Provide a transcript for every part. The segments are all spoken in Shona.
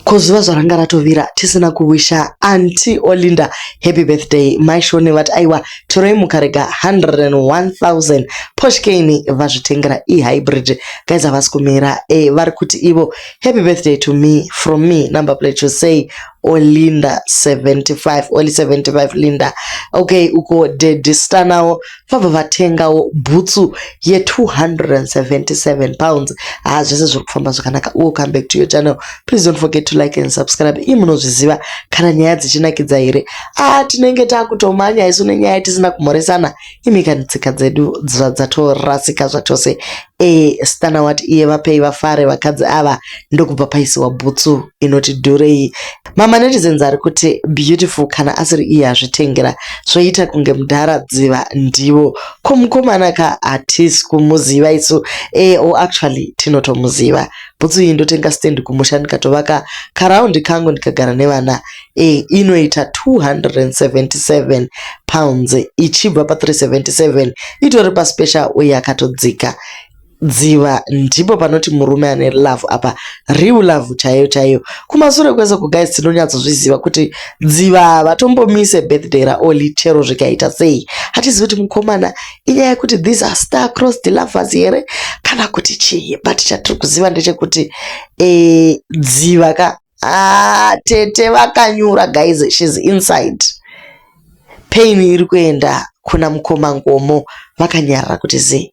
ko zuva zvaranga ratovira tisina kuwisha anti olinda happy birthday maishone vati aiwa toroi mukarega 101000 poshkeni vazvitengera ihybrid guys havasi kumira e vari kuti ivo happy birthday to me from me number plate to say olinda 75 oli 75 linda okay uko dedi stanawo vabva vatengawo bhutsu ye277 pounds haa ah, zvese zviri kufamba zvakanaka welcome back to your channel please don't forget to like and subscribe ii munozviziva kana nyaya dzichinakidza here aa ah, tinenge takutomanya isu nenyaya tisina kumhoresana imika netsika dzedu dzatorasika zvachose e stana wati iye vapei vafare vakadzi ava ndokubva paisiwa bhutsu inoti dhurei Mama netizens ari kuti beautiful kana asiri iye azvitengera zvoita kunge mudhara dziva ndivo ko mukomana ka hatisi kumuziva isu e eh, o oh, actually tinotomuziva bhutsu iyi ndotenga stand kumusha ndikatovaka karaundi kangu ndikagara nevana e eh, inoita 277 pounds ichibva pa 377 itori paspecial uye akatodzika Dziva ndipo panoti murume ane love apa real love chaiyo chaiyo kumasure kwese ku guys tinonyatsozviziva kuti dziva havatombomise birthday raoli chero zvikaita sei hatizivi kuti mukomana inyaya yekuti these are star cross the lovers here kana kuti chii but chatiri kuziva ndechekuti e, dziva ka ah, tete vakanyura guys shes inside pain iri kuenda kuna mukoma ngomo vakanyarara kuti zii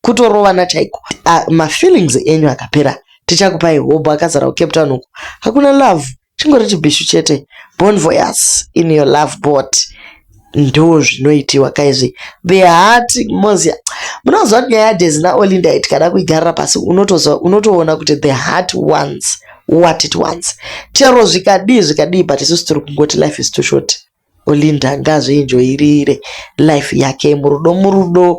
kutorovana chaiko ah, mafeelings enyu akapera tichakupai hobho akazara kucape town uku hakuna love chingori chibhishu chete bon voyas in your love bot ndo zvinoitiwa kaizvi behati mozi munoziva kuti nyaya yadezi naolinda it kana kuigarira pasi unotoona kuti the heart ones what it ones chero zvikadii zvikadii but isusu tiri kungoti life is too short Olinda ngaazvienjoyirire life yake murudo murudo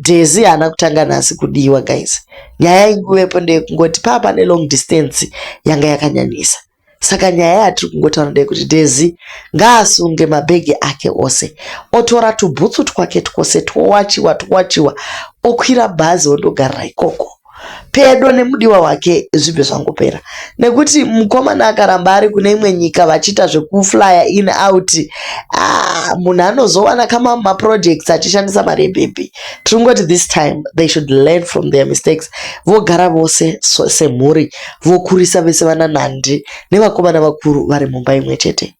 Daisy haana kutanga nhasi kudiwa guys nyaya yaingowe po ndeyekungoti pave pane long distance yanga yakanyanyisa saka nyaya yatiri kungotaura ndeyekuti Daisy ngaasunge mabhegi ake ose otora tubhutsu twake twose twowachiwa twowachiwa okwira bhazi ondogarira ikoko pedo nemudiwa wake zvibve zvangopera nekuti mukomana akaramba ari kune imwe nyika vachiita zvekuflya in out ah, munhu anozowana kama maprojects achishandisa mari yebhebhi tiri kungoti this time they should learn from their mistakes vogara vose semhuri vokurisa vese vana nhandi nevakomana vakuru vari mumba imwe chete